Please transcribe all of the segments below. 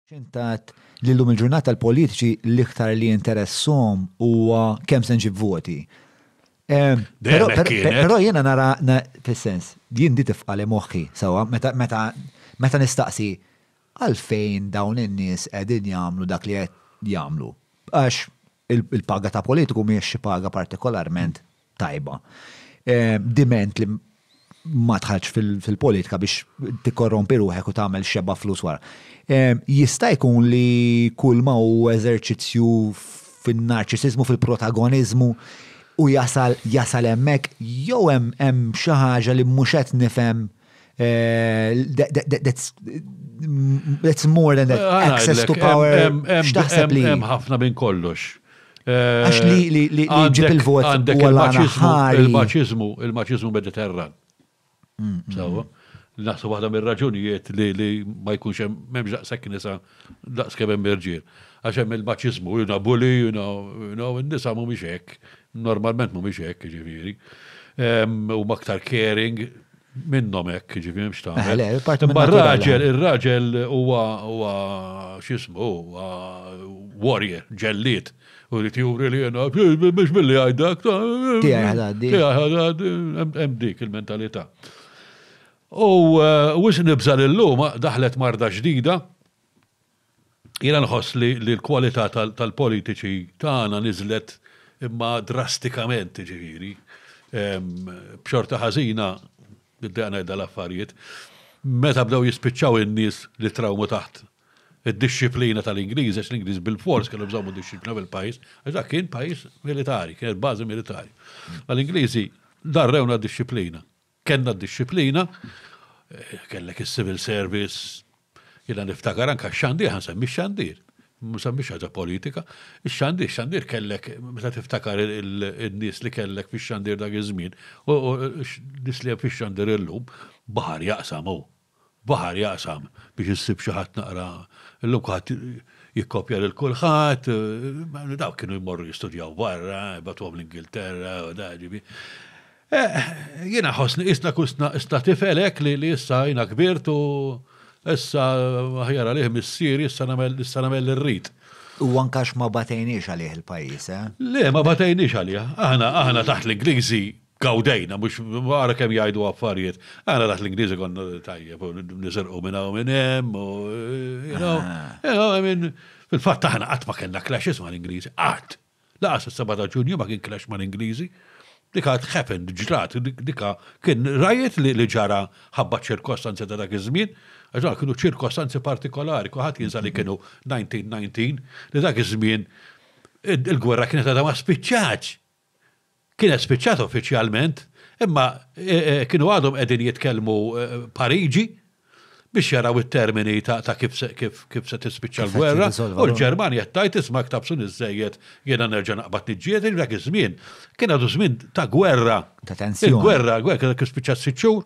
X'intgħad li llum il-ġurnata l-politiċi l-iktar li jinteresshom huwa kemm se nġib voti. Però jiena nara fis-sens, jien di tifqa' li moħħi sewwa meta nistaqsi għalfejn dawn in-nies qegħdin jagħmlu dak li qed jagħmlu. Għax Il-paga ta' politiku mhijiex xi paga partikolarment tajba. Diment li ma tħarġ fil-politika biex tikkorrompi ruħek u tagħmel xeba flus wara. Jista' jkun li kull ma hu eżerċizzju fin-narċisizmu, fil-protagoniżmu u jasal jasal hemmhekk jew hemm hemm xi ħaġa li mhux qed nifhem Eh, that's more than that ah, access to power. X'taħseb li? Hemm ħafna minn kollox. Eh, Għax li li li ġib il-vot għandek il-maċizmu, il-maċizmu mediterran. Mm, mm. Sawa. Naħsu waħda mir-raġunijiet li ma jkunx hemm m'hemmx daqshekk nisa eh, Daqs kemm hemm irġiel. Għax hemm il-maċiżmu, you know, bully, you know, you know, in-nisa mhumiex hekk, normalment mhumiex hekk, jiġifieri. Huma aktar caring, minnhom hekk, ġifieri mhux ta' eh, Imma raġel, ir-raġel huwa huwa x'ismu, huwa warrior, ġelliet. U li tjuri li jena, biex billi għajdak, tiegħi ħadaddi. Tiegħi ħadaddi, hemm dik il-mentalità. U wisq nibża' li llum daħlet marda ġdida. Jiena nħoss li l-kwalità tal-politiċi tagħna niżlet imma drastikament, jiġifieri, b'xorta ħażina, nibda ngħidha l-affarijiet, meta bdew jispiċċaw in-nies li trawmu taħt id-dixxiplina tal-Ingliżi, għax l-Ingliżi bilfors kellhom iżommu d-dixxiplina fil-pajjiż, għax dak kien pajjiż militari, kienet bażi militari. L-Ingliżi darrewna d-dixxiplina. Kellna d-dixxiplina, kellek is-civil service, jiena niftakar anke x-xandir, ħa nsemmi x-xandir, ma nsemmix ħaġa politika, ix-xandir, ix-xandir kellek meta tiftakar in-nies li kellek fix-xandir dak iż-żmien u n-nies li hemm fix-xandir illum, baħar jaqsam hu. baħar jaqsam biex issib xi ħadd naqra illum kulħadd jikkopja lil kulħadd, dawk kienu jmorru jistudjaw barra, jbagħtuhom l-Ingilterra u da ġibi. Eh, jiena ħossni isna kusna isna tifel hekk li li issa jiena kbirt u issa ħjara lih missier issa nagħmel issa nagħmel irrid. U ankax ma batejniex għalih il-pajjiż, eh? Le, ma batejniex għalih. Aħna aħna taħt l-Ingliżi gawdejna, mux għara kem jajdu għaffariet. Għana daħt l-Ingliżi kon tajjeb, nisirqu minna u minn hemm, u you know, ah. I mean, fil-fatt aħna qatt ma kellna clashes ma' l-Ingliżi, qatt. Laqas is-7 ta' Ġunju ma kien clash ma' l-Ingliżi. Dika happened, ġrat, dika kien rajet li ġara ħabba ċirkostanzi ta' dak iż-żmien, għax kienu ċirkostanzi partikolari, kuħat jinsa li kienu 1919, li dak iż-żmien il-gwerra kienet għadha ma spiċċaċ. Kienet spiċċat uffiċjalment, imma kienu għadhom qegħdin jitkellmu Pariġi biex jaraw it-termini ta' kif se tispiċċa l-gwerra, u l-Ġermanja qed tgħid isma' ktabsuni żżejjed jiena nerġa' naqbad niġġieled, dak iż-żmien kien għadu żmien ta' gwerra. Ta' tensjoni. Il-gwerra, il-gwerra kienet spiċċat sitt xhur.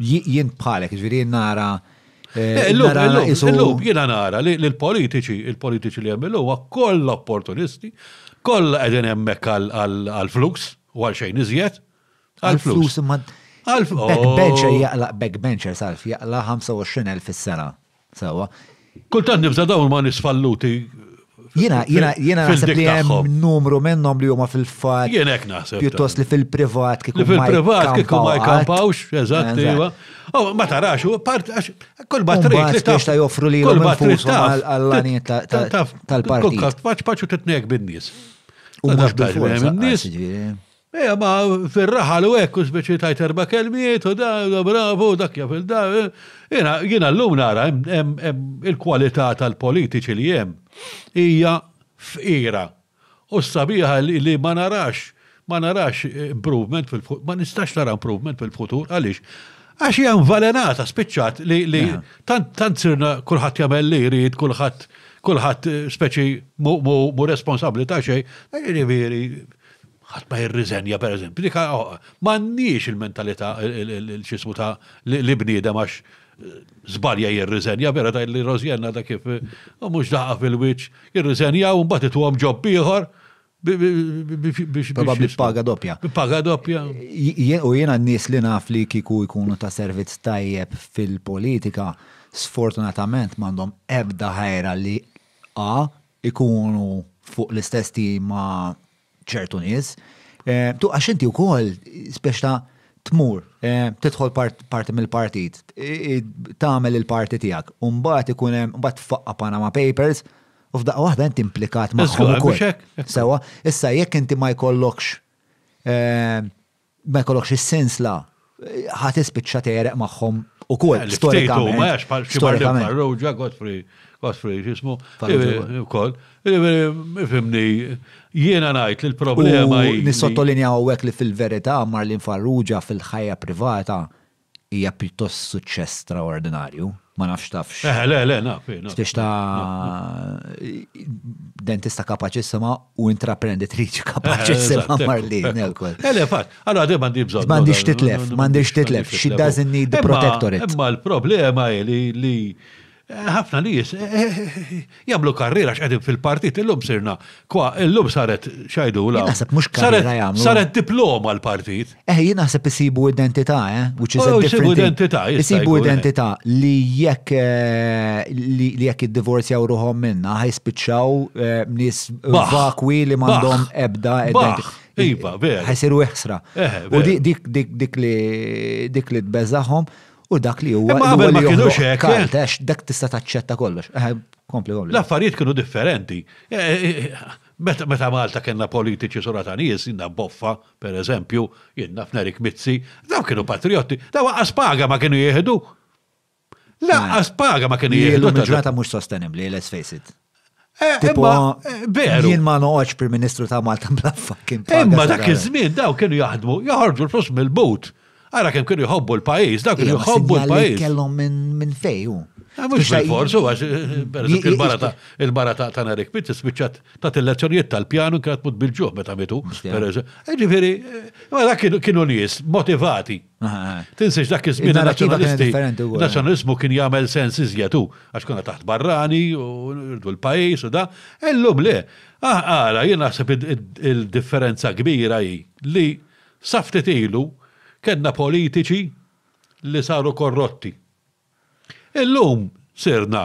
Jien bħalek, ġviri nara. Illum jiena nara li l-politiċi, il-politiċi li hemm illum huwa kollha opportunisti, kollha qegħdin hemmhekk għall-flus u għal xejn iżjed. Għall-flus. Backbencher jaqlaq backbencher salf, jaqlaq 25,000 fis-sena. Sewa. Kultant nibża dawn ma nis falluti. Jina, jina, jina naħseb li hemm numru minnhom li huma fil-fat. Jien hekk naħseb. Pjuttost li fil-privat kieku. Li fil-privat kieku ma jkampawx, eżatt, iva. Oh, ma tarax, part, kull ma trid. Biex ta' joffru li kull ma trid għall-għaniet tal-parti. Paċ paċu titnek bin-nies. U mux bil-forza. Ejja, ma fir-raħal u hekk u speċi tajt erba' kelmiet u da, da bravu, u dak jaf il-da. Jiena jiena llum nara hemm hemm hemm il-kwalità tal-politiċi li hemm hija fqira. U s-sabiħa li li ma narax ma narax improvement fil-futur, ma nistax nara improvement fil-futur, għaliex? Għax hija invalenata, spiċċat li li tant tant sirna kulħadd jagħmel li jrid, kulħadd kulħadd speċi mhu mhu mhu responsabbli ta' xejn, jiġifieri ħadd ma jirriżenja pereżempju, dik m'għandniex il-mentalità l-ċismu ta' li bniedem għax żbalja eh, jirriżenja vera ta' li Rożjenna da kif eh, mhux daqa fil-wiċċ, jirriżenja u mbagħad ituhom ġob ieħor biex. Probabbli paga doppja. Paga doppja. U jiena n-nies li naf li kiku jkunu ta' servizz tajjeb fil-politika, sfortunatament m'għandhom ebda ħajra li A ikunu fuq l-istess tim ma' ċertu nies. Eh, tu għax inti wkoll spex ta' tmur, eh, tidħol parti mill-partit, tagħmel il-parti tiegħek, u mbagħad ikun hemm mbagħad faqqa Panama Papers, u f'daqqa waħda inti implikat magħhom ukoll. Sewa, issa jekk inti ma jkollokx eh, ma jkollokx is-sens la ħa tispiċċa tegħreq magħhom ukoll eh, storikament. Ma jax bħal xi Farrugia, Godfrey, Godfrey x'ismu, ukoll. Eh, eh, Fimni, jiena ngħid li l-problema hi. Nissottolinjaw hekk li fil-verità Marlin Farrugia fil-ħajja privata Hija pjuttost suċċess straordinarju, ma nafx tafx. Eħe, le, le, naf, naf. X'tiex ta' dentista kapaċissima u intraprenditriċi kapaċissima marli. Ele, fatt, għal għadem għandi bżonn. M'għandix titlef, m'għandix titlef, she doesn't need the protectorate. Imma l-problema li Ħafna nies jagħmlu karriera x'qegħdin fil-partit illum sirna kwa illum saret xajdu la. Naħseb mhux karriera jagħmlu. Saret diploma l-partit. Eh jien naħseb isibu identità, eh, which is a oh, different identità. Isibu eh. identità li jekk eh, li jekk iddivorzjaw ruħhom minna ħajspiċċaw eh, nies vakwi li m'għandhom ebda identità. Iva, vera. Ħajsiru iħsra. U dik li dik li tbeżaħhom U dak li huwa. Imma qabel ma kienux hekk. Għax eh? dak tista' taċċetta kollox. Eh, kompli, kompli. L-affarijiet kienu differenti. Eh, meta Malta kellna politiċi sura ta' nies, jinna boffa, per eżempju, jinna f'Nerik Mizzi, daw kienu patriotti, daw għas paga ma kienu jieħdu. Laqqas paga ma kienu jieħdu. Il-ġurnata mhux sostenibbli, let's face it. Eh, tipo, eh, veru. Jien ma noqgħodx Prim Ministru ta' Malta bla fucking paga. Imma dak iż-żmien daw kienu jaħdmu, joħorġu l-flus mill-but. Ara kemm kienu jħobbu l-pajjiż, dak kienu jħobbu l-pajjiż. Kellhom minn fejju. Ah, mhux bil-forsu għax eh, il-barata il-barata ta' Narik Pitt spiċċat ta' il-lezzjonijiet tal-pjanu kienet mut bil-ġuħ meta mitu. Ġifieri, dak kienu nies motivati. Tinsiex dak iż-żmien nazzjonalisti. Nazzjonalizmu kien jagħmel sens iżjed u għax konna taħt barrani u rdu l-pajjiż u da. Illum le. Ara, jien naħseb il-differenza kbira hi li saftit ilu kellna politiċi li saru korrotti. Illum sirna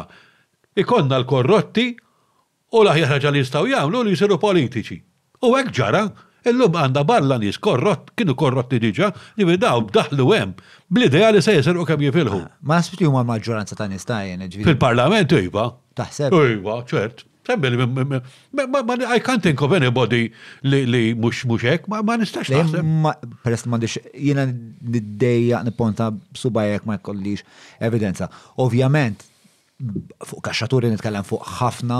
ikonna l-korrotti U l-aħjar ħaġa li jistgħu jagħmlu hu li jsiru politiċi. U hekk ġara. Illum għandna barra nies korrott, kienu korrotti diġà, jiġifieri dawn daħlu hemm bl-idea li se jisirqu kemm jifilħu. Ma naħsibx li huma l-maġġoranza ta' nies ta' għajn, jiġifieri. Fil-Parlament iva. Taħseb? Iva, ċert. I can't think of anybody li mhux hekk, ma nistax naħseb. Peress li m'għandix, jiena niddejjaq nipponta b'subgħajja jekk ma jkollix evidenza. Ovvjament, fuq kaxxaturi nitkellem fuq ħafna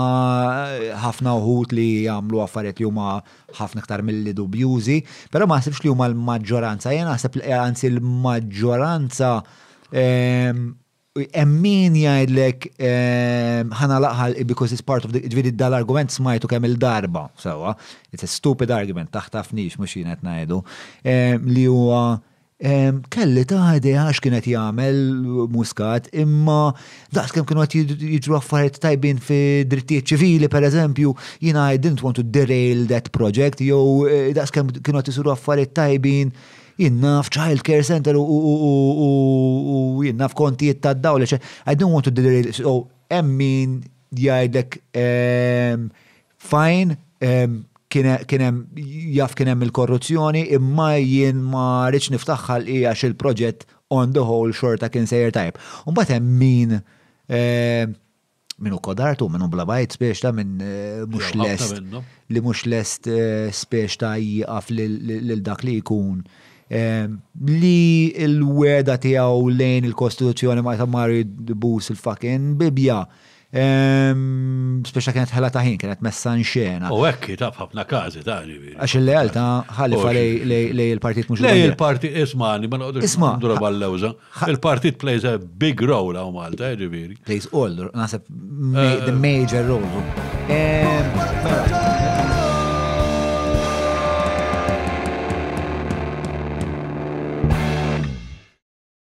ħafna uħud li jagħmlu affarijiet li huma ħafna iktar milli dubjużi, però ma naħsibx li huma l-maġġoranza, jien naħseb li anzi l-maġġoranza ehm, emmin jgħidlek ehm, ħana laqħal because it's part of the, ġviri dal-argument smajtu kemm il-darba, sewa, it's a stupid argument, taħtafnix mux jienet najdu, ehm, li huwa Kelli ta' idea għax kien qed jagħmel Muscat, imma daqskemm kienu qed jiġru affarijiet tajbin fi drittijiet ċivili pereżempju, jiena I didn't want to derail that project jew eh, daqskemm kienu qed isiru affarijiet tajbin jien naf child care center u jien naf kontijiet tad-dawl, I don't want to derail, so hemm min jgħidlek ehm, Fajn, kienem jaf kienem il-korruzzjoni imma jien ma rridx niftaħħal hija il-proġett on the whole xorta kien sejjer tajb. Mbagħad hemm min eh, minu kodartu, minu blabajt spiex ta' minn eh, mux lest, li mux lest eh, spiex ta' jieqaf lil dak li jkun. Eh, li l-weda tijaw lejn il-Kostituzzjoni ma jtamari bus il-fucking bibja, Speċa kienet ħela ta' ħin, kienet messa nxena. U hekk ta' ħafna każi ta' ġifieri. Għax il-lealtà ħalifa lej il-partit mhux Lej il-partit ismani, ma noqgħodux isma' droba l-lewża. Il-partit plays a big role hawn Malta, eh, ġifieri. Plays all, naħseb eh. the major role.